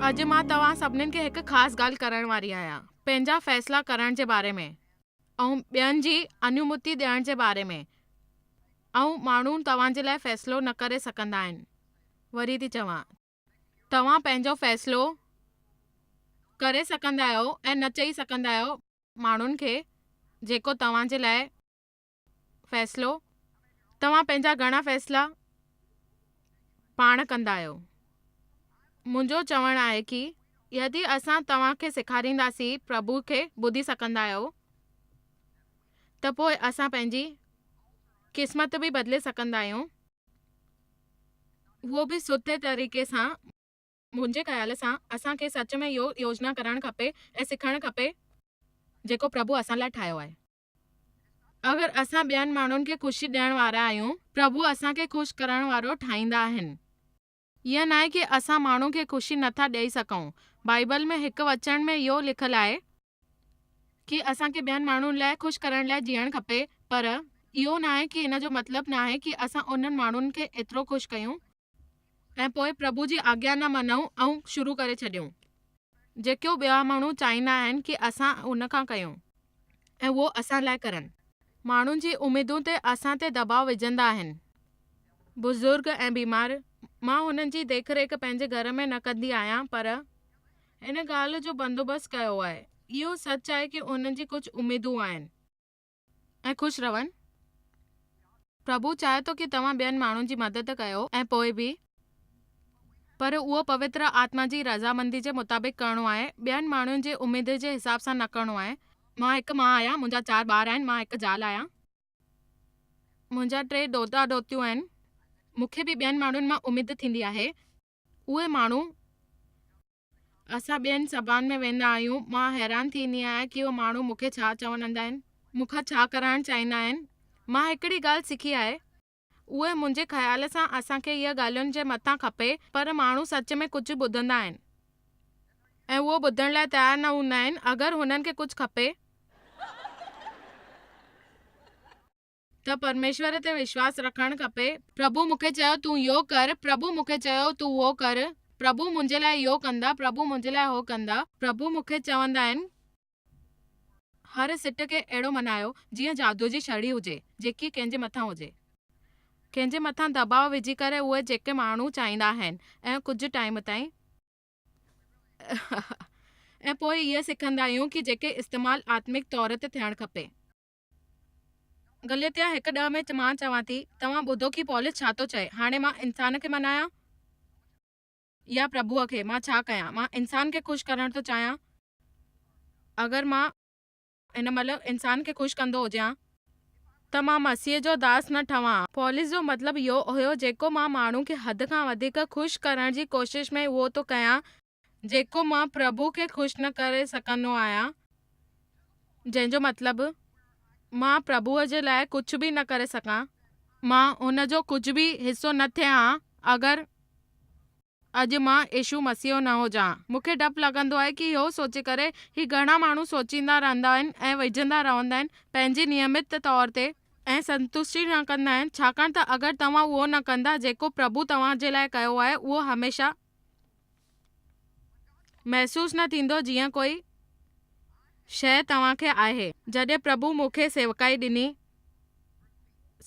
اڄ مان توهان سڀنين کي هڪ خاص ڳالهه ڪرڻ واري آهيان، پنهنجا فيصلا ڪرڻ جي باري ۾ ۽ ٻين جي انومتي ڏيڻ جي باري ۾. اهو ماڻهو توهان جي لاء فيصلو نه ڪري سگهندا آهن. وري ٿي چوان ته. توهان پنهنجو فيصلو ڪري سگهندا آهيو ۽ نه چئي سگهندا آهيو ماڻهن کي جيڪو توهان جي لاء فيصلو توهان پنهنجا گهڻا فيصلا پاڻ ڪندا آهيو منهنجو چوڻ آهي ڪي يدي اسان توهان کي سيکارينداسين پرڀو کي ٻڌي سگهندا آهيو ته پوء اسان پنهنجي قسمت به بدلي سگهندا آهيون اهو به سڌي طريقي سان منهنجي خيال سان اسان کي سچ ۾ اهو يوجنا ڪرڻ کپي ۽ سکڻ کپي جيڪو پرڀو اسان لاء ٺاهيو آهي. اگر اسان ٻين ماڻهن کي خوشي ڏيڻ وارا آهيون پرڀو اسان کي خوش ڪرڻ وارو ٺاهيندا آهن. ائين ناهي ڪي اسان ماڻهو کي خوشي نه ٿا ڏئي سگهون. بائيبل ۾ هڪ وچن ۾ اهو لکيل آهي. ڪي اسان کي ٻين ماڻهن لاء خوش ڪرڻ لاء جيئڻ کپي. پر اهو ناهي ڪي ان جو مطلب ناهي ڪي اسان انهن ماڻهن کي ايترو خوش ڪيون ۽ پوء پرڀو جي آگيا نه مڃون ۽ شروع ڪري ڇڏيون. جيڪو ٻيا ماڻهو چاهيندا آهن ڪي اسان ان کان ڪيون ۽ اهو اسان لاء ڪرن. ماڻهن جي اميدون تي اسان تي دٻاء وجهندا آهن. بزرگ ۽ بيمار، مان هنن جي ديک ريک پنهنجي گهر ۾ نه ڪندي آهيان پر ان ڳالهه جو بندوبست ڪيو آهي. اهو سچ آهي ڪي انهن جي ڪجهه اميدون آهن. ۽ خوش رهن. پرڀو چاهي ٿو ڪي توهان ٻين ماڻهن جي مدد ڪيو ۽ پوء به پر اهو پوتر آتما جي رضامندي جي مطابق ڪرڻو آهي ٻين ماڻهن جي اميد جي حساب سان نه ڪرڻو آهي. مان هڪ ماء آهيان منهنجا چار ٻار آهن مان هڪ زال آهيان منهنجا ٽي ڏوهتا ڏوهتيون آهن مونکي به ٻين ماڻهن مان اميد ٿيندي آهي اهي ماڻهو اسان ٻين سڀان ۾ ويندا آهيون مان حيران ٿي ايندي آهيان ڪي اهي ماڻهو مونکي ڇا چوڻ اندا آهن مونکان ڇا ڪرائڻ چاهيندا آهن مان هڪڙي ڳالهه سکي آهي اهي منهنجي خيال سان اسان کي اها ڳالهين جي مٿان کپي پر ماڻهو سچ ۾ ڪجهه ٻڌندا آهن ۽ اهو ٻڌڻ لاء تيار نه هوندا آهن اگر هنن کي ڪجهه کپي. ته پرميشور تي وشواس رکڻ کپي. پرڀو مون کي چيو تون يو ڪر، پرڀو مون کي چيو تون هو ڪر، پرڀو منهنجي لاء يو ڪندا، پرڀو منهنجي لاء هو ڪندا. پرڀو مون کي چوندا آهن هر سٽ کي اهڙو منايو جيئن جادوء جي شڙي هجي جيڪي ڪنهن جي مٿان هجي. ڪنهن جي مٿان دٻاء وجهي ڪري اهي جيڪي ماڻهو چاهيندا آهن ۽ ڪجهه ٽائيم تائين ۽ پوء اهي سکندا آهيون ڪي جيڪي استعمال آتمڪ طور تي ٿيڻ کپي. گليتيا هڪ ڏهه ۾ مان چوان ٿي، توهان ٻڌو ڪي پولس ڇا ٿو چئي. هاڻي مان انسان کي مڃايان يا پرڀوء کي؟ مان ڇا ڪيان؟ مان انسان کي خوش ڪرڻ ٿو چاهيان. اگر مان هن مهل انسان کي خوش ڪندو هجيان ته مان مسيح جو داس نه ٺهان ها. پولس جو مطلب اهو هيو، جيڪو مان ماڻهو کي حد کان وڌيڪ خوش ڪرڻ جي ڪوشش ۾ اهو ٿو ڪيان، جيڪو مان پرڀو کي خوش نه ڪري سگهندو آهيان، جنهن جو مطلب مان پرڀوء جي لاء ڪجهه به نه ڪري سگهان. مان ان جو ڪجهه به حصو نه ٿئي هان اگر اڄ مان يسوع مسيح نه هجان. مون کي ڊپ لڳندو آهي ڪي اهو سوچي ڪري هي گهڻا ماڻهو سوچيندا رهندا آهن ۽ ويجهندا رهندا آهن پنهنجي نيمت طور تي، ۽ سنتشٽي نه ڪندا آهن ڇاڪاڻ ته اگر توهان اهو نه ڪندا جيڪو پرڀو توهان جي لاء ڪيو آهي اهو هميشه محسوس نه ٿيندو جيئن ڪوئي شيء توهان کي آهي. جڏهن پرڀو مون کي سيوڪائي ڏني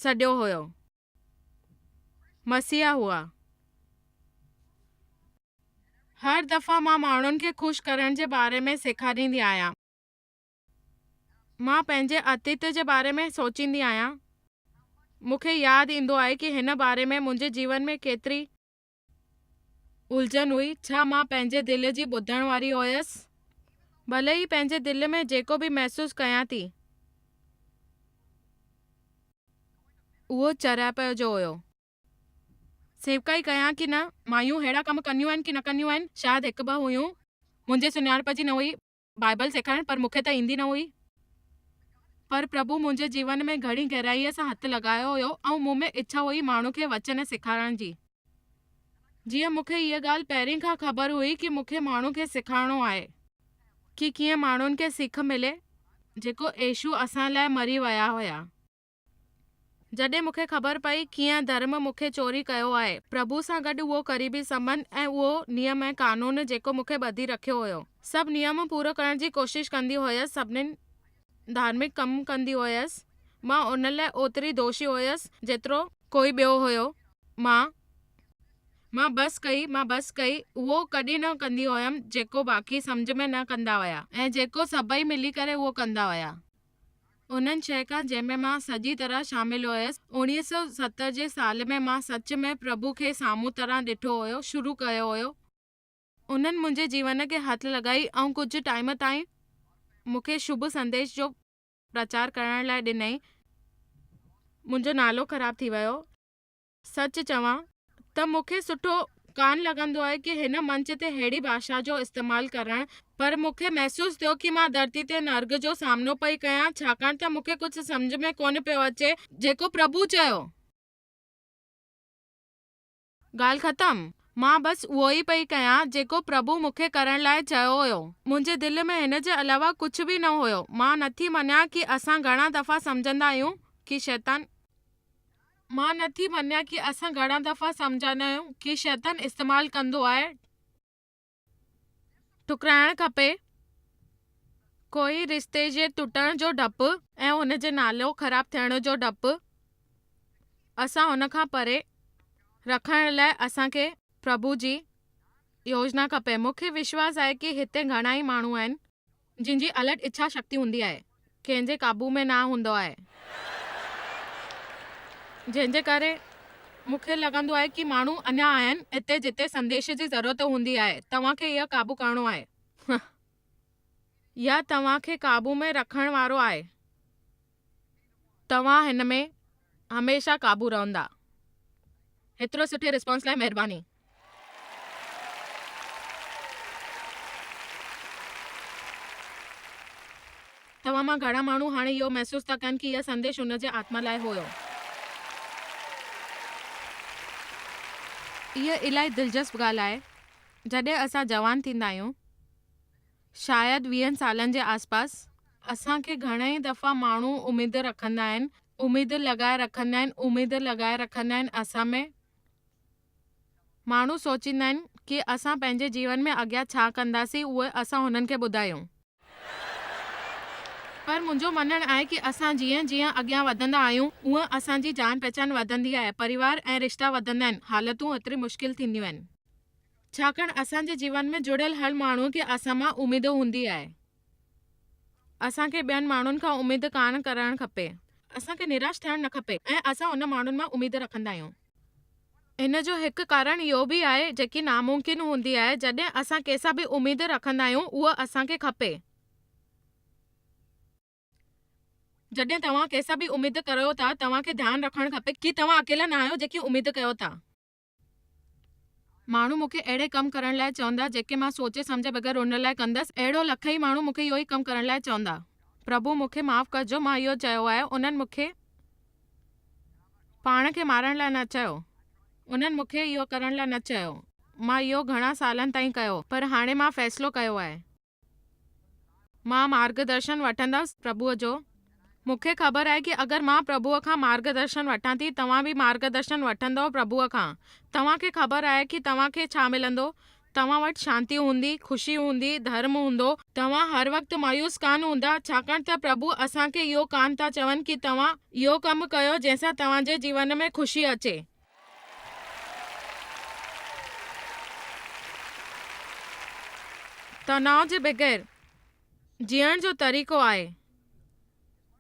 سڏيو هيو. مسيح هئا. هر دفعا مان ماڻهن کي خوش ڪرڻ جي باري ۾ سيکاريندي آهيان. مان پنهنجي اتيت جي باري ۾ سوچيندي آهيان. مون کي ياد ايندو آهي ڪي هن باري ۾ منهنجي جيون ۾ ڪيتري الجهن هئي، ڇا مان پنهنجي دل جي ٻڌڻ واري هيس؟ ڀلي هي پنهنجي دل ۾ جيڪو به محسوس ڪيان ٿي، اهو چريائپ جو هيو. سيوڪائي ڪيان ڪي نه، مايون ههڙا ڪم ڪنديون آهن ڪي نه ڪنديون آهن، شايد هڪ ٻه هيون، منهنجي سڃاڻپ جي نه هئي، بائيبل سيکارڻ پر مون کي ته ايندي نه هئي. پر پرڀو منهنجي جيون ۾ گهڻي گهرائيء سان هٿ لڳايو هيو ۽ مون ۾ اڇا هئي ماڻهن کي وچن سيکارڻ جي. جيئن مون کي هيء ڳالهه پهرين کان خبر هئي ڪي مون کي ماڻهن کي سيکارڻو آهي ڪي ڪيئن ماڻهن کي سک ملي جيڪو يسوع اسان لاء مري ويا هيا. جڏهن مون کي خبر پئي، ڪيئن ڌرم مون کي چوري ڪيو آهي، پرڀو سان گڏ اهو قريبي سنٻنڌ ۽ اهو نيم ۽ قانون جيڪو مون کي ٻڌي رکيو هيو. سڀ نيم پورو ڪرڻ جي ڪوشش ڪندي هيس، سڀني ڌارمڪ ڪم ڪندي هيس، مان ان لاء اوتري دوشي هيس، جيترو. ڪوئي ٻيو هيو. مان مان بس ڪئي، مان بس ڪئي، اهو ڪڏهن نه ڪندي هيم، جيڪو باقي سمجهه ۾ نه ڪندا هيا ۽ جيڪو سڀئي ملي ڪري اهو ڪندا هيا. انهن ڇهه کان جنهن ۾ مان سڄي طرح شامل هيس. اوڻيهه سؤ ستر جي سال ۾ مان سچ ۾ پرڀو کي سامهون طرح ڏٺو هيو، شروع ڪيو هيو. انهن منهنجي جيون کي هٿ لڳائي ۽ ڪجهه ٽائيم تائين مون کي شڀ سنديش جو پرچار ڪرڻ لاء ڏنائين. منهنجو نالو خراب ٿي ويو. سچ چوان ته مون کي سٺو ڪانه لڳندو آهي ڪي هن منچ تي ههڙي ڀاشا جو استعمال ڪرڻ پر مون کي محسوس ٿيو ڪي مان ڌرتي تي نرڳ جو سامنو پئي ڪيان ڇاڪاڻ ته مون کي ڪجهه سمجهه ۾ ڪونه پيو اچي جيڪو پرڀو چيو ڳالهه ختم مان بس اهو ئي پئي ڪيان جيڪو پرڀو مون کي ڪرڻ لاء چيو هيو منهنجي دل ۾ هن جي علاوه ڪجهه به نه هيو مان نٿي مڃان ڪي اسان گهڻا دفعا سمجهندا آهيون ڪي شيطان مان نه ٿي مڃان ڪي اسان گھڻا دفعا سمجھاندا آهيون ڪي شيطان استعمال ڪندو آهي ٺڪرائڻ کپي ڪوئي رشتي جي ٽٽڻ جو ڊپ ۽ ان جي نالو خراب ٿيڻ جو ڊپ اسان ان کان پري رکڻ لاء اسان کي پرڀو جي يوجنا کپي مون کي وشواس آهي ڪي هتي گھڻا ئي ماڻهو آهن جنهن جي الٽ اڇا شڪتي هوندي آهي، ڪنهن جي قابو ۾ نه هوندو آهي، جنهن جي ڪري مون کي لڳندو آهي ڪي ماڻهو اڃا آهن اتي جتي سنديش جي ضرورت هوندي آهي توهان کي اها قابو ڪرڻو آهي يا توهان کي قابو ۾ رکڻ وارو آهي. توهان هن ۾ هميشه قابو رهندا. هيترو سٺي رسپانس لاء مهرباني. توهان مان گهڻا ماڻهو هاڻي اهو محسوس ٿا ڪن ڪي اهي سنديش ان جي آتما لاء هيو. اها الاهي دلچسپ ڳالهه آهي جڏهن اسان جوان ٿيندا آهيون. شايد ويهن سالن جي آس پاس. اسان کي گهڻئي دفعا ماڻهو اميد رکندا آهن اميد لڳائي رکندا آهن اميد لڳائي رکندا آهن اسان ۾. ماڻهو سوچيندا آهن ڪي اسان پنهنجي جيون ۾ اڳيان ڇا ڪنداسين اهو اسان هنن کي ٻڌايون. پر منهنجو مڃڻ آهي ڪي اسان جيئن جيئن اڳيان وڌندا آهيون اونهن اسان جي جان پهچان وڌندي آهي پريوار ۽ رشتا وڌندا آهن حالتون اوتري مشڪل ٿينديون آهن. ڇاڪاڻ اسان جي جيون ۾ جڙيل هر ماڻهو کي اسان مان اميد هوندي آهي. اسان کي ٻين ماڻهن کان اميد ڪانه ڪرڻ کپي. اسان کي نراش ٿيڻ نه کپي ۽ اسان ان ماڻهن مان اميد رکندا آهيون. ان جو هڪ ڪارڻ اهو به آهي جيڪي ناممڪن هوندي آهي جڏهن اسان ڪنهن سان به اميد رکندا آهيون اهو اسان کي کپي. جڏهن توهان ڪنهن سان به اميد ڪريو ٿا توهان کي ڌيان رکڻ کپي ڪي توهان اڪيلا نه آهيو جيڪي اميد ڪيو ٿا. ماڻهو مون کي اهڙي ڪم ڪرڻ لاء چوندا، جيڪي مان سوچي سمجهي بغير ان لاء ڪندس. اهڙو لکئين ماڻهو مون کي اهو ئي ڪم ڪرڻ لاء چوندا. پرڀو مون کي معاف ڪرجو، مان اهو چيو آهي، انهن مون کي پاڻ کي مارڻ لاء نه چيو. انهن مون کي اهو ڪرڻ لاء نه چيو. مان اهو گهڻا سالن تائين ڪيو، پر هاڻي مان فيصلو ڪيو آهي. مان مارگ درشن وٺندس پرڀوء جو. مون کي خبر آهي ڪي اگر مان پرڀوء کان مارگ درشن وٺان ٿي، توهان به مارگ درشن وٺندؤ پرڀوء کان. توهان کي خبر آهي ڪي توهان کي ڇا ملندو؟ توهان وٽ شانتي هوندي، خوشي هوندي، ڌرم هوندو. توهان هر وقت مايوس ڪانه هوندا، ڇاڪاڻ ته پرڀو اسان کي اهو ڪانه ٿا چون ڪي توهان اهو ڪم ڪيو جنهن سان توهان جي جيون ۾ خوشي اچي. تناء جي بغير جيئڻ جو طريقو آهي.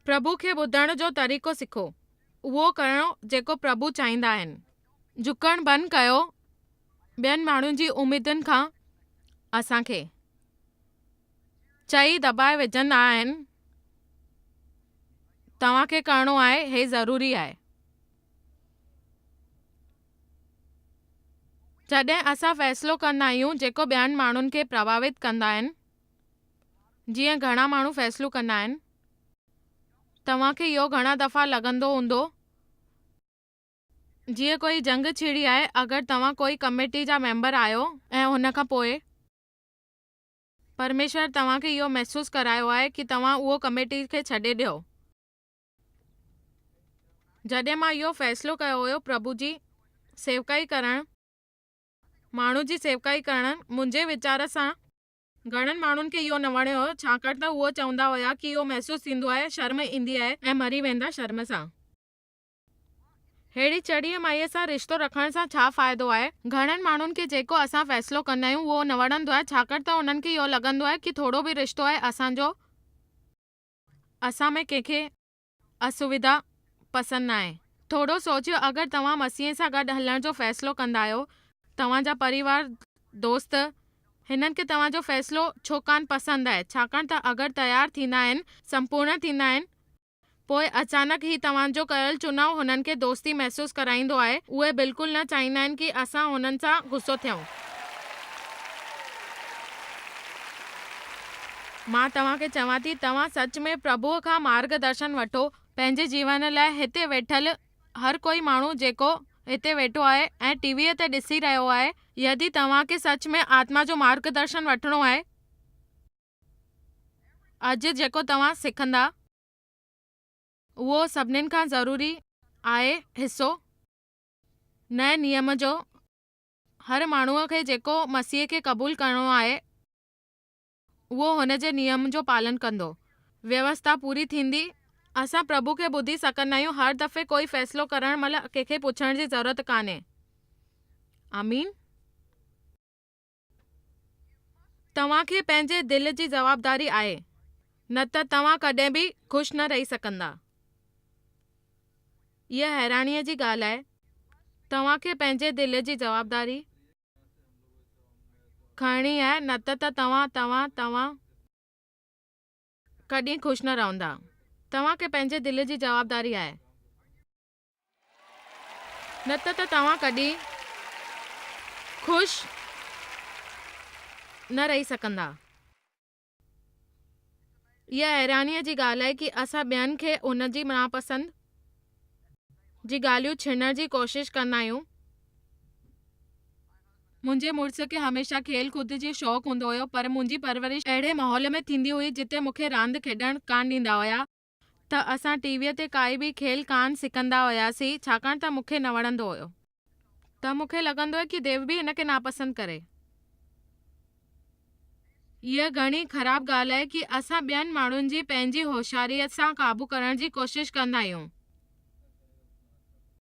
پرڀو کي ٻڌڻ جو طريقو سکو. اهو ڪرڻ جيڪو پرڀو چاهيندا آهن. جهڪڻ بند ڪيو ٻين ماڻهن جي اميدن کان اسان کي چئي دٻائي وجهندا آهن توهان کي ڪرڻو آهي هي ضروري آهي. جڏهن اسان فيصلو ڪندا آهيون جيڪو ٻين ماڻهن کي پرڀاوت ڪندا آهن جيئن گهڻا ماڻهو فيصلو ڪندا آهن توهان کي اهو گهڻا دفعا لڳندو هوندو جيئن ڪوئي جنگ ڇڙي آهي اگر توهان ڪوئي ڪميٽي جا ميمبر آهيو ۽ ان کان پوء پرميشور توهان کي اهو محسوس ڪرايو آهي ڪي توهان اهو ڪميٽي کي ڇڏي ڏيو. جڏهن مان اهو فيصلو ڪيو هيو پرڀو جي سيوڪائي ڪرڻ، ماڻهن جي سيوڪائي ڪرڻ منهنجي ويچار سان، گهڻن ماڻهن کي اهو نه وڻيو هيو ڇاڪاڻ ته هو چوندا هيا ڪي اهو محسوس ٿيندو آهي شرم ايندي آهي ۽ مري ويندا شرم سان ههڙي چڙيء مائيء سان رشتو رکڻ سان ڇا فائدو آهي گهڻن ماڻهن کي جيڪو اسان فيصلو ڪندا آهيون اهو نه وڻندو آهي ڇاڪاڻ ته انهن کي اهو لڳندو آهي ڪي ٿورو به رشتو آهي اسان جو اسان ۾ ڪنهن کي اسويڌا پسند ناهي. ٿورو سوچيو اگر توهان مسيح سان گڏ هلڻ جو فيصلو ڪندا آهيو، توهان جا پريوار، دوست، هنن کي توهان جو فيصلو ڇو ڪانه پسند آهي ڇاڪاڻ ته اگر تيار ٿيندا آهن، سمپورڻ ٿيندا آهن، پوء اچانڪ هي توهان جو ڪيل چناو هنن کي دوستي محسوس ڪرائيندو آهي، اهي بلڪل نه چاهيندا آهن ڪي اسان هنن سان غصو ٿيون. مان توهان کي چوان ٿي، توهان سچ ۾ پرڀوء کان مارگ درشن وٺو، پنهنجي جيون لاء هتي ويٺل هر ڪوئي ماڻهو جيڪو هتي ويٺو آهي ۽ ٽي ويء تي ڏسي رهيو آهي، يدي توهان کي سچ ۾ آتما جو مارگ درشن وٺڻو آهي اڄ جيڪو توهان سکندا، اهو سڀني کان ضروري آهي حصو نئين نيم جو، هر ماڻهوء کي جيڪو مسيح کي قبول ڪرڻو آهي، اهو هن جي نيم جو پالن ڪندو. ويوسٿا پوري ٿيندي. اسان پرڀو کي ٻڌي سگهندا آهيون. هر دفعي ڪوئي فيصلو ڪرڻ مهل ڪنهن کي پڇڻ جي ضرورت ڪانهي. آمين. توهان کي پنهنجي دل جي جوابداري آهي. نه ته توهان ڪڏهن به خوش نه رهي سگهندا. هيء حيرانيء جي ڳالهه آهي. توهان کي پنهنجي دل جي جوابداري. کڻڻي آهي نه ته ته توهان، توهان، توهان ڪڏهن خوش نه رهندا. توهان کي پنهنجي دل جي جوابداري آهي نه ته ته توهان ڪڏهن خوش نه رهي سگهندا. اها حيرانيء جي ڳالهه آهي ڪي اسان ٻين کي ان جي ناپسند جي ڳالهيون ڇينڻ جي ڪوشش ڪندا آهيون. منهنجي مڙس کي هميشه کيل ڪود جو شوق هوندو هيو پر منهنجي پرورش اهڙي ماحول ۾ ٿيندي هئي جتي مون کي راند کيڏڻ ڪانه ڏيندا هيا. ته اسان ٽي ويء تي ڪائي به کيل ڪانه سڪندا هياسين، ڇاڪاڻ ته مون کي نه وڻندو هيو. ته مون کي لڳندو هيو ڪي ديو به هن کي ناپسند ڪري. اها گهڻي خراب ڳالهه آهي ڪي اسان ٻين ماڻهن جي پنهنجي هوشياريء سان قابو ڪرڻ جي ڪوشش ڪندا آهيون.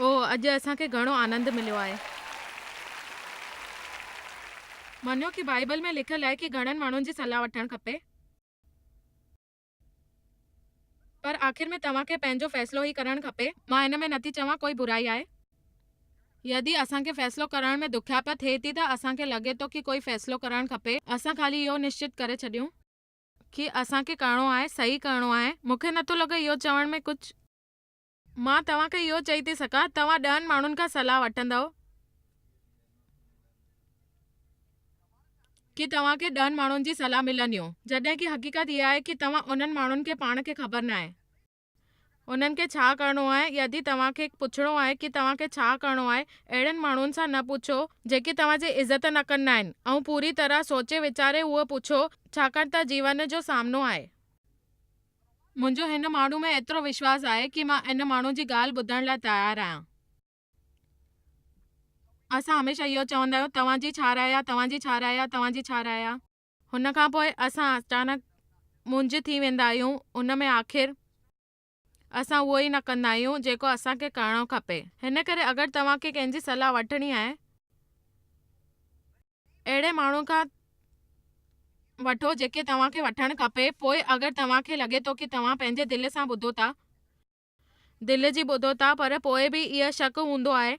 او اڄ اسان کي گهڻو آنند مليو آهي. مڃيو ڪي بائيبل ۾ لکيل آهي ڪي گهڻن ماڻهن جي صلاح وٺڻ کپي پر آخر ۾ توهان کي پنهنجو فيصلو ئي ڪرڻ کپي مان ان ۾ نٿي چوان ڪوئي برائي آهي يدي اسان کي فيصلو ڪرڻ ۾ دکيائپ ٿئي ٿي ته اسان کي لڳي ٿو ڪي ڪوئي فيصلو ڪرڻ کپي اسان خالي اهو نشچت ڪري ڇڏيون ڪي اسان کي ڪرڻو آهي صحيح ڪرڻو آهي مونکي نٿو لڳي اهو چوڻ ۾ ڪجهه مان توهان کي اهو چئي ٿي سگهان توهان ڏهن ماڻهن کان صلاح وٺندؤ ڪي توهان کي ڏهن ماڻهن جي صلاح ملنديون جڏهن ڪي حقيقت اها آهي ڪي توهان انهن ماڻهن کي پاڻ کي خبر ناهي انهن کي ڇا ڪرڻو آهي يدي توهان کي پڇڻو آهي ڪي توهان کي ڇا ڪرڻو آهي اهڙن ماڻهن سان نه پڇو جيڪي توهان جي عزت نه ڪندا آهن ۽ پوري طرح سوچي ويچاري اهو پڇو ڇاڪاڻ ته جيون جو سامنو آهي. منهنجو هن ماڻهو ۾ ايترو وشواس آهي ڪي مان ان ماڻهو جي ڳالهه ٻڌڻ لاء تيار آهيان. اسان هميشه اهو چوندا آهيون توهان جي ڇا راء آهي توهان جي ڇا راء آهي توهان جي ڇا راء آهي. هن کان پوء اسان اچانڪ منجهه ٿي ويندا آهيون ان ۾ آخر اسان اهو ئي نه ڪندا آهيون جيڪو اسان کي ڪرڻو کپي هن ڪري اگر توهان کي ڪنهن جي صلاح وٺڻي آهي ته اهڙي ماڻهو کان وٺو جيڪي توهان کي وٺڻ کپي پوء اگر توهان کي لڳي ٿو ڪي توهان پنهنجي دل سان ٻڌو ٿا دل جي ٻڌو ٿا پر پوء به اهي شڪ هوندو آهي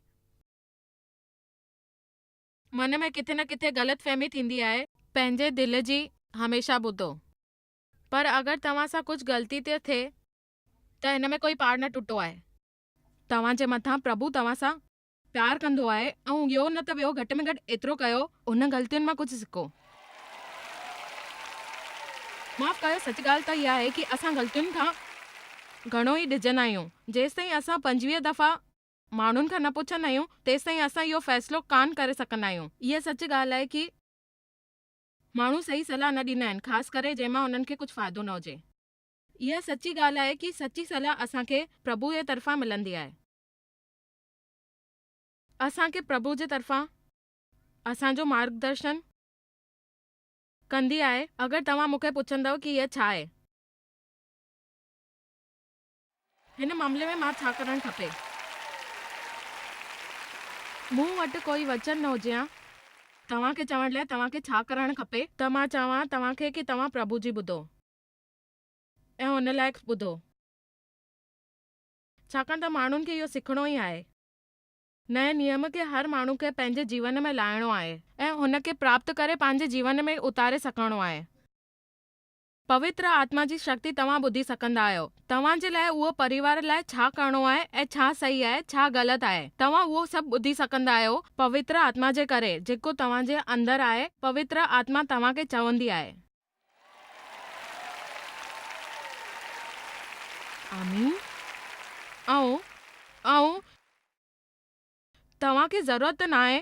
من ۾ ڪٿي نه ڪٿي غلط فهمي ٿيندي آهي. پنهنجي دل جي هميشه ٻڌو پر اگر توهان سان ڪجهه غلطي ٿي ٿئي ته هن ۾ ڪوئي پاڙ نه ٽٽو آهي. توهان جي مٿان پرڀو توهان سان پيار ڪندو آهي ۽ ٻيو نه ته ٻيو گهٽ ۾ گهٽ ايترو ڪيو هن غلطين مان ڪجهه سکو. معاف ڪيو سچ ڳالهه ته اها آهي ڪي اسان غلطين کان گهڻو ئي ڊڄندا آهيون جيستائين اسان پنجويهه دفعا ماڻهن کان نه پڇندا آهيون تيستائين اسان اهو فيصلو ڪانه ڪري سگهندا آهيون اها سچ ڳالهه آهي ڪي ماڻهو صحيح صلاح نه ڏيندا آهن خاص ڪري جنهن مان انهن کي ڪجهه فائدو نه هجي. اها سچي ڳالهه آهي ڪي سچي صلاح اسان کي پرڀو جي طرفان ملندي آهي. اسان کي پرڀو جي طرفان اسان جو مارگدرشن ڪندي آهي. اگر توهان مون کي پڇندؤ ڪي هيء ڇا آهي؟ هن معاملي ۾ مان ڇا ڪرڻ کپي؟ مون وٽ ڪوئي وچن نه هجي هان توهان کي چوڻ لاء توهان کي ڇا ڪرڻ کپي ته مان چوان توهان کي ڪي توهان پرڀو جي ٻڌو ۽ ان لائق ٻڌو. ڇاڪاڻ ته ماڻهن کي اهو سکڻو ئي آهي. نئين نيم کي هر ماڻهو کي پنهنجي جيون ۾ لاهڻو آهي ۽ ان کي پراپت ڪري پنهنجي جيون ۾ اتاري سکڻو آهي. پوتر آتما جي شڪتي توهان ٻڌي سکندا آهيو. توهان جي لاء اهو پريوار لاء ڇا ڪرڻو آهي ۽ ڇا صحيح آهي ڇا غلط آهي توهان اهو سڀ ٻڌي سکندا آهيو پوتر آتما جي ڪري جيڪو توهان جي اندر آهي پوتر آتما توهان کي چوندي آهي. آمين آئون آئون توهان کي ضرورت ناهي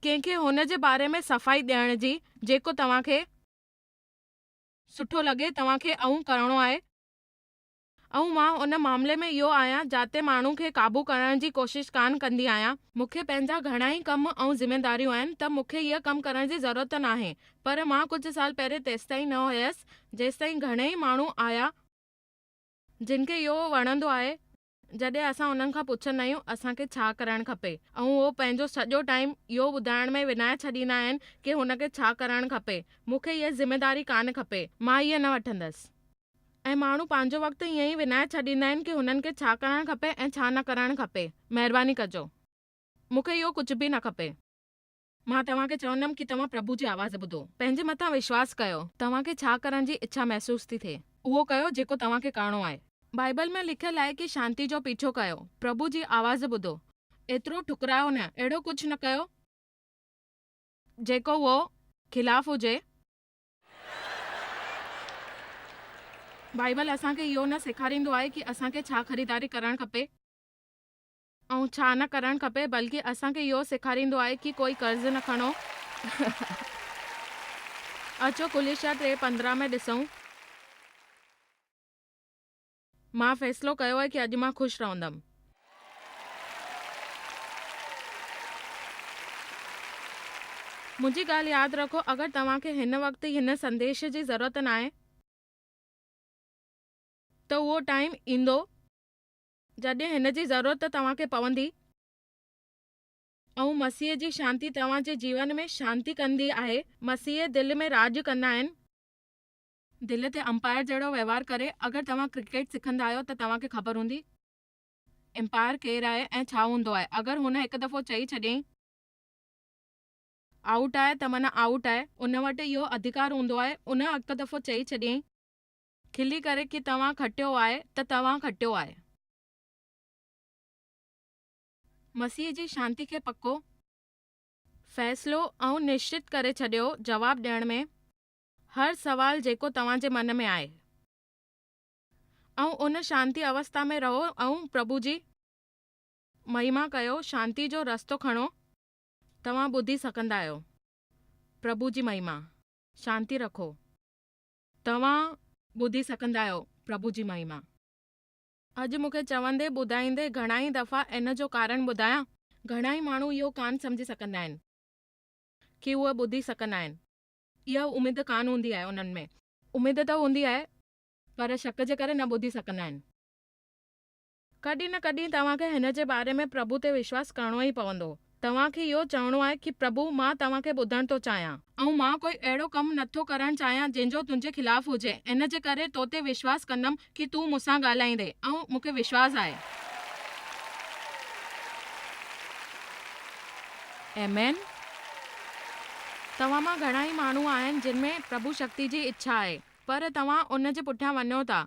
ڪنهن کي هن جي باري ۾ صفائي ڏيڻ جي جيڪو توهان کي سٺو لڳي توهان کي آئون ڪرڻو آهي ۽ مان ان معاملي ۾ اهو آهيان جاتي ماڻهو کي قابو ڪرڻ جي ڪوشش ڪانه ڪندي آهيان، مون کي پنهنجا گهڻا ئي ڪم ۽ ذميداريون آهن ته مون کي اهي ڪم ڪرڻ جي ضرورت ناهي پر مان ڪجهه سال پهرين تيستائين نه هيس جيستائين گهڻي ئي ماڻهو آهيا جن کي اهو وڻندو آهي جڏهن اسان انهن کان پڇندا آهيون اسان کي ڇا ڪرڻ کپي ۽ اهو پنهنجو سڄو ٽائيم اهو ٻڌائڻ ۾ وڃائي ڇڏيندا آهن ڪي هن کي ڇا ڪرڻ کپي مون کي اها ذميداري ڪانه کپي مان اهي نه وٺندس. ۽ ماڻهو پنهنجو وقت ائين ئي وڃائي ڇڏيندا آهن ڪي هنن کي ڇا ڪرڻ کپي ۽ ڇا نه ڪرڻ کپي مهرباني ڪجو مون کي اهو ڪجهه به نه کپي. مان توهان کي چوندم ڪي توهان پرڀو جي آواز ٻڌو پنهنجي مٿان وشواس ڪيو توهان کي ڇا ڪرڻ جي اڇا محسوس ٿي ٿئي اهو ڪيو جيڪو توهان کي ڪرڻو آهي. بائيبل ۾ لکيل آهي ڪي شانتي جو پيڇو ڪيو پرڀو جي آواز ٻڌو ايترو ٺڪرايو نه اهڙو ڪجهه نه ڪيو جيڪو اهو خلاف هجي. بائيبل اسان کي اهو نه سيکاريندو آهي ڪي اسان کي ڇا خريداري ڪرڻ کپي ۽ ڇا نه ڪرڻ کپي بلڪه اسان کي اهو سيکاريندو آهي ڪي ڪوئي قرض نه کڻو اچو ڪليشيا ٽي پندرهن ۾ ڏسون. مان فيصلو ڪيو آهي ڪي اڄ مان خوش رهندم. منهنجي ڳالهه ياد رکو اگر توهان کي هن وقت هن سنديش جي ضرورت ناهي ته اهو ٽائيم ايندو جڏهن هن جي ضرورت توهان کي پوندي. ائون مسيح جي شانتي توهان جي جيون ۾ شانتي ڪندي آهي. مسيح دل ۾ راڄ ڪندا آهن. دل تي امپائر جهڙو وهنوار ڪري اگر توهان ڪرڪيٽ سکندا آهيو ته توهان کي خبر هوندي امپائر ڪير آهي ۽ ڇا هوندو آهي اگر هن هڪ دفعو چئي ڇڏيائين آئوٽ آهي ته معنيٰ آئوٽ آهي ان وٽ اهو اڌڪار هوندو آهي ان هڪ دفعو چئي ڇڏيائين کلي ڪري ڪي توهان کٽيو آهي ته توهان کٽيو آهي. مسيح جي شانتي کي پڪو فيصلو ۽ نشچت ڪري ڇڏيو جواب ڏيڻ ۾ هر سوال جيڪو توهان جي من ۾ آهي ۽ ان شانتي اوستا ۾ رهو ۽ پرڀو جي مهيما ڪيو شانتي جو رستو کڻو توهان ٻڌي سگهندا آهيو پرڀو جي مهيما شانتي رکو توهان ٻڌي سگهندا آهيو پرڀو جي مهيما. اڄ مون کي چوندي ٻڌائيندي گهڻائي دفعا ان جو ڪارڻ ٻڌايان گهڻائي ماڻهو اهو ڪانه سمجهي سگهندا آهن ڪي اهو ٻڌي سگهندا آهن اها اميد ڪانه هوندي آهي انهن ۾. اميد ته هوندي آهي پر شڪ جي ڪري نه ٻڌي سگهندا آهن. ڪڏهن نه ڪڏهن توهان کي هن جي باري ۾ پرڀو تي وشواس ڪرڻو ئي پوندو. توهان کي اهو چوڻو آهي ڪي پرڀو مان توهان کي ٻڌڻ ٿو چاهيان. ۽ مان ڪوئي اهڙو ڪم نه ٿو ڪرڻ چاهيان جنهن جو تنهنجي خلاف هجي ان جي ڪري تو تي وشواس ڪندم ڪي تون مون سان ڳالهائيندي ۽ مون کي وشواس آهي Amen توهان مان گهڻا ئي ماڻهو آهن جن ۾ پرڀو شڪتي جي اڇا آهي پر توهان ان جي پٺيان وڃو ٿا،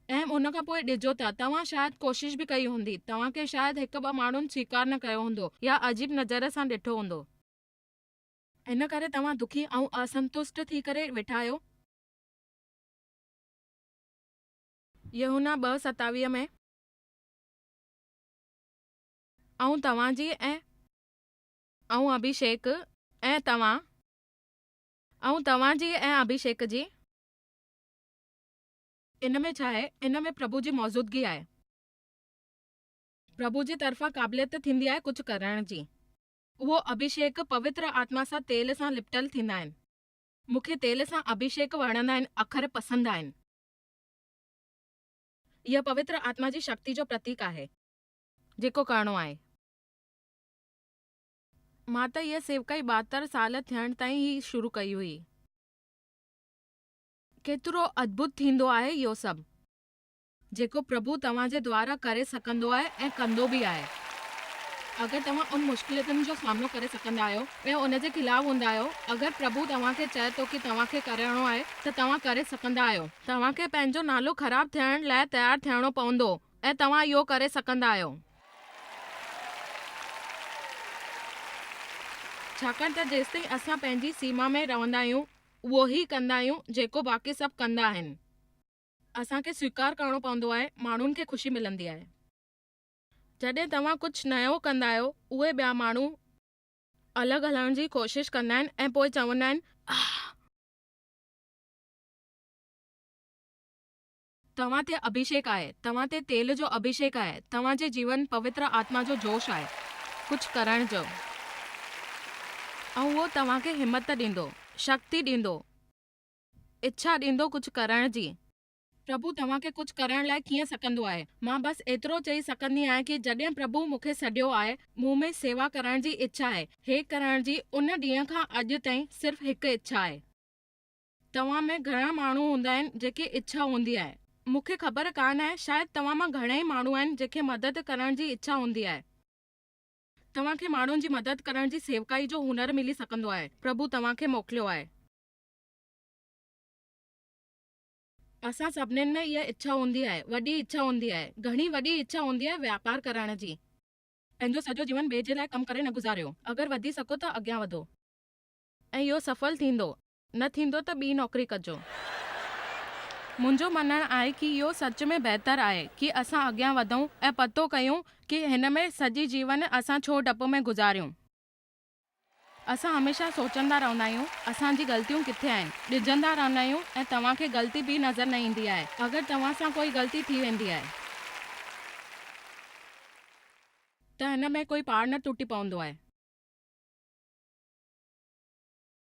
۽ ان کان پوء ڊڄو ٿا توهان شايد ڪوشش به ڪئي هوندي توهان کي شايد هڪ ٻه ماڻهن سويڪار نه ڪيو هوندو يا عجيب نظر سان ڏٺو هوندو. ان ڪري توهان دکي ۽ اسنتشٽ ٿي ڪري ويٺا آهيو. يوحنا ٻه ستاويهه ۾. آئون توهان جي ۽. آئون اڀيشيڪ ۽ توهان. آئون توهان جي ۽ اڀيشيڪ جي. ان ۾ ڇا آهي؟ ان ۾ پرڀو جي موجودگي آهي. پرڀو جي طرفان قابليت ٿيندي آهي ڪجهه ڪرڻ جي. اهو اڀيشيڪ پوتر آتما سان تيل سان لپٽل ٿيندا آهن. مون کي تيل سان اڀيشيڪ وڻندا آهن، اکر پسند آهن. اها پوتر آتما جي شڪتي جو پرتيڪ آهي. جيڪو ڪرڻو آهي. مان ته هيء سيوڪائي ٻاهتر سال ٿيڻ تائين ئي شروع ڪئي هئي. ڪيترو ادڀت ٿيندو آهي اهو سڀ. جيڪو پرڀو توهان جي دوارا ڪري سگهندو آهي ۽ ڪندو به آهي. اگر توهان ان مشڪليتن جو سامنو ڪري سگهندا آهيو ۽ ان جي خلاف هوندا آهيو، اگر پرڀو توهان کي چئي ٿو ڪي توهان کي ڪرڻو آهي ته توهان ڪري سگهندا آهيو. توهان کي پنهنجو نالو خراب ٿيڻ لاء تيار ٿيڻو پوندو. ۽ توهان اهو ڪري سگهندا آهيو. ڇاڪاڻ ته جيستائين اسان پنهنجي سيما ۾ رهندا آهيون، اهو ئي ڪندا آهيون جيڪو باقي سڀ ڪندا آهن. اسان کي سويڪار ڪرڻو پوندو آهي، ماڻهن کي خوشي ملندي آهي. جڏهن توهان ڪجهه نيو ڪندا آهيو، اهي ٻيا ماڻهو الڳ هلڻ جي ڪوشش ڪندا آهن ۽ پوء چوندا آهن، آهه! توهان تي اڀيشيڪ آهي، توهان تي تيل جو اڀيشيڪ آهي، توهان جي جيون پوتر آتما جو جوش آهي ڪجهه ڪرڻ جو ۽ اهو توهان کي همت ڏيندو، شڪتي ڏيندو، اڇا ڏيندو ڪجهه ڪرڻ جي. پرڀو توهان کي ڪجهه ڪرڻ لاء ڪيئن سڪندو آهي؟ مان بس ايترو چئي سڪندي آهيان ڪي جڏهن پرڀو مون کي سڏيو آهي، مون ۾ سيوا ڪرڻ جي اڇا آهي، هيء ڪرڻ جي، ان ڏينهن کان اڄ تائين صرف هڪ اڇا آهي. توهان ۾ گهڻا ماڻهو هوندا آهن جيڪي اڇا هوندي آهي مون کي خبر ڪانه آهي شايد توهان مان گهڻائي ماڻهو آهن جن کي مدد ڪرڻ جي اڇا هوندي آهي. توهان کي ماڻهن جي مدد ڪرڻ جي سيوڪائي جو هنر ملي سگهندو آهي پرڀو توهان کي موڪليو آهي. اسان سڀنين ۾ اها اڇا هوندي آهي وڏي اڇا هوندي آهي گهڻي وڏي اڇا هوندي آهي واپار ڪرڻ جي. پنهنجو سڄو جيون ٻئي جي لاء ڪم ڪري نه گذاريو اگر وڌي سگهو ته اڳيان وڌو ۽ اهو سڦل ٿيندو. نه ٿيندو ته ٻي نوڪري ڪجو. منهنجو مڃڻ آهي ڪي اهو سچ ۾ بهتر آهي ڪي اسان اڳيان وڌون ۽ پتو ڪيون ڪي هن ۾ سڄي جيون اسان ڇو ڊپ ۾ گذاريون. اسان هميشه سوچندا رهندا آهيون اسان جي غلطيون ڪٿي آهن ڊڄندا رهندا آهيون ۽ توهان کي غلطي به نظر نه ايندي آهي اگر توهان سان ڪوئي غلطي ٿي ويندي آهي ته هن ۾ ڪوئي پاڙ نه ٽٽي پوندو آهي.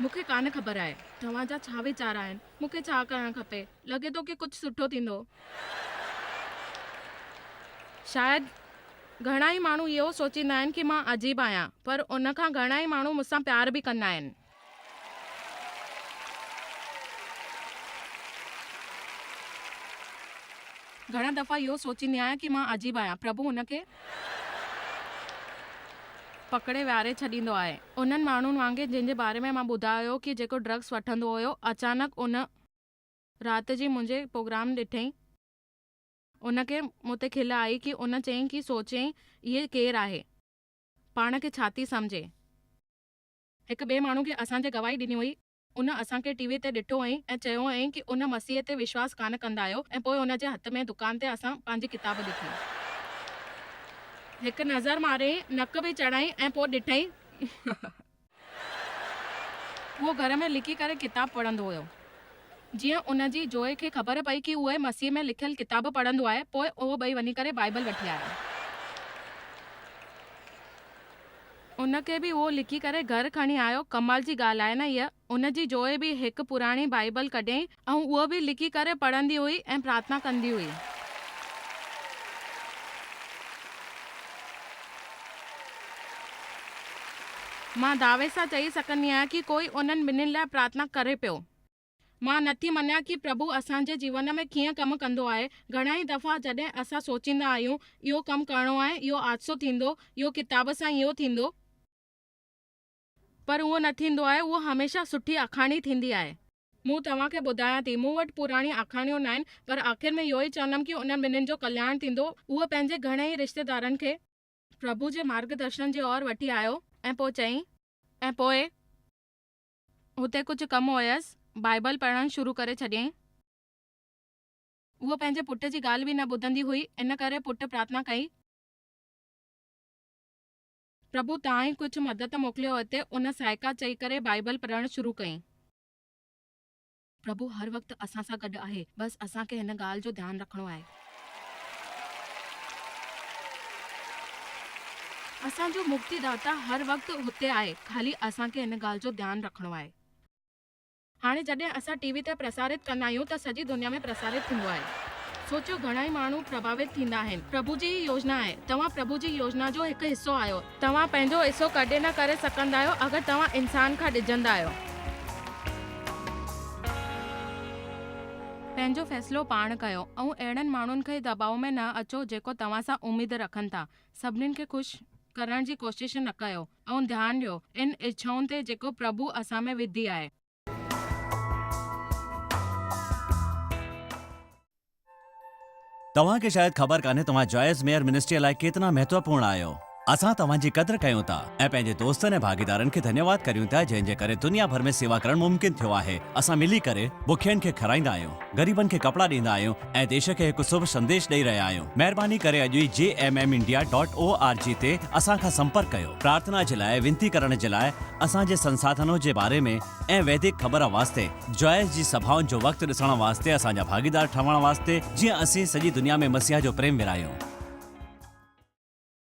مون کي ڪانه خبر آهي توهان جا ڇا ويچار آهن مون کي ڇا ڪرڻ کپي لڳي ٿو ڪي ڪجهه سٺو ٿيندو شايد گهڻا ئي ماڻهو اهو سوچيندا آهن ڪي مان عجيب آهيان پر ان کان گهڻا ئي ماڻهو مون سان پيار به ڪندا آهن. گهڻا دفعا اهو سوچيندي آهيان ڪي مان عجيب آهيان پرڀو ان کي. پڪڙي ويھاري ڇڏيندو آھي انھن ماڻھن وانگي جنھن جي باري ۾ مان ٻڌايو ھو ڪي جيڪو ڊرگس وٺندو ھيو اچانڪ ان رات جي منھنجي پروگرام ڏٺئين ان کي مون تي کل آئي ڪي ان چيئين ڪي سوچيئين اھي ڪير آھي پاڻ کي ڇاٿي سمجھي ھڪ ٻئي ماڻھو کي اسان جي گواھي ڏني ھئي. ان اسان کي ٽي وي تي ڏٺو هئائين ۽ چيو هئائين ڪي ان مسيح تي وشواس ڪانه ڪندا آهيو ۽ پوء ان جي هٿ ۾ دڪان تي اسان پنهنجي ڪتاب ڏٺي. هڪ نظر ماريائين، نڪ به چڙهائين ۽ پوء ڏٺائين. هو گهر ۾ لڪي ڪري ڪتاب پڙهندو هيو. جيئن ان جي جوئي کي خبر پئي ڪي هوء مسيح ۾ لکيل ڪتاب پڙهندو آهي پوء اهو ٻئي وڃي ڪري بائيبل وٺي آيا. ان کي به اهو لکي ڪري گهر کڻي آيو، ڪمال جي ڳالهه آهي نه هيء! ان جي جوئي به هڪ پراڻي بائيبل ڪڍيائين ۽ اهو به لکي ڪري پڙهندي هئي ۽ پرارٿنا ڪندي هئي. مان دعوي سان چئي سگهندي آهيان ڪي ڪوئي انهن ٻنهين لاء پرارٿنا ڪري پيو. مان نٿي مڃان ڪي پرڀو اسان جي جيون ۾ ڪيئن ڪم ڪندو آهي. گهڻا ئي دفعا جڏهن اسان سوچيندا آهيون اهو ڪم ڪرڻو آهي، اهو حادثو ٿيندو، اهو ڪتاب سان اهو ٿيندو. پر اهو نه ٿيندو آهي، اهو هميشه سٺي آکاڻي ٿيندي آهي. مون توهان کي ٻڌايان ٿي، مون وٽ پراڻي آکاڻيون ناهن، پر آخر ۾ اهو ئي چوندم ڪي انهن ٻنهين جو ڪلياڻ ٿيندو. هوء پنهنجي گهڻي ئي رشتيدارن کي. پرڀو جي مارگدرشن جي اور وٺي آيو ۽ پوء چيائين. ۽ پوء. هتي ڪجهه ڪم هيس، بائيبل پڙهڻ شروع ڪري ڇڏيائين. هوء پنهنجي پٽ جي ڳالهه به نه ٻڌندي هئي، ان ڪري پٽ پرارٿنا ڪئي. پرڀو تان ئي ڪجهه مدد موڪليو هتي ان سائيڪا چئي ڪري بائيبل پڙهڻ شروع ڪئي. پرڀو هر وقت اسان سان گڏ آهي بس اسان کي هن ڳالهه جو ڌيان رکڻو آهي. اسان جو مڪتي داتا هر وقت هتي آهي خالي اسان کي هن ڳالهه جو ڌيان رکڻو آهي. هاڻي جڏهن اسان ٽي وي تي پرسارت ڪندا آهيون ته سڄي دنيا ۾ پرسارت ٿيندو آهي سوچيو گهڻائي ماڻهو پرڀاوت ٿيندا آهن پرڀو جي هي يوجنا آهي توهان پرڀو جي يوجنا جو هڪ حصو آهيو. توهان پنهنجو حصو ڪڏهن نه ڪري سگهندا آهيو اگر توهان انسان کان ڊڄندا آهيو. پنهنجو فيصلو پاڻ ڪيو ۽ اهڙن ماڻهن کي دٻاء ۾ نه اچو جيڪو توهان سان اميد رکن ٿا. سڀني کي خوش ڪرڻ جي ڪوشش نه ڪيو ۽ ڌيان ڏيو ان اڇائون تي جيڪو پرڀو اسان ۾ وڌي آهي. توهان کي شايد خبر ڪانهي توهان جائز ميئر منسٽريء لاء ڪيتنا مهتوپورڻ آهيو. اسان توهان جي قدر ڪيون ٿا ۽ پنهنجي دوستن ۽ ڀاڳيدارن کي ڌنيواد ڪريون ٿا جنهن جي ڪري دنيا ڀر ۾ سيوا ڪرڻ ممڪن ٿيو آهي. اسان ملي ڪري بکين کي کارائيندا آهيون، غريبن کي ڪپڙا ڏيندا آهيون، ۽ ديش کي هڪ سڀ سنديش ڏئي رهيا آهيون. مهرباني ڪري اڄ ئي G M M India dot O R G تي اسان کان سمپرڪ ڪيو. پرارٿنا جي لاء وينتي ڪرڻ جي لاء اسان جي سنساڌنو جي باري ۾ ۽ ويدڪ خبر واسطي جوائس جي سڀائن جو وقت ڏسڻ واسطي اسان جا ڀاڳيدار ٺهڻ واسطي جيئن اسين سڄي دنيا ۾ مسيح جو پريم ورهايون.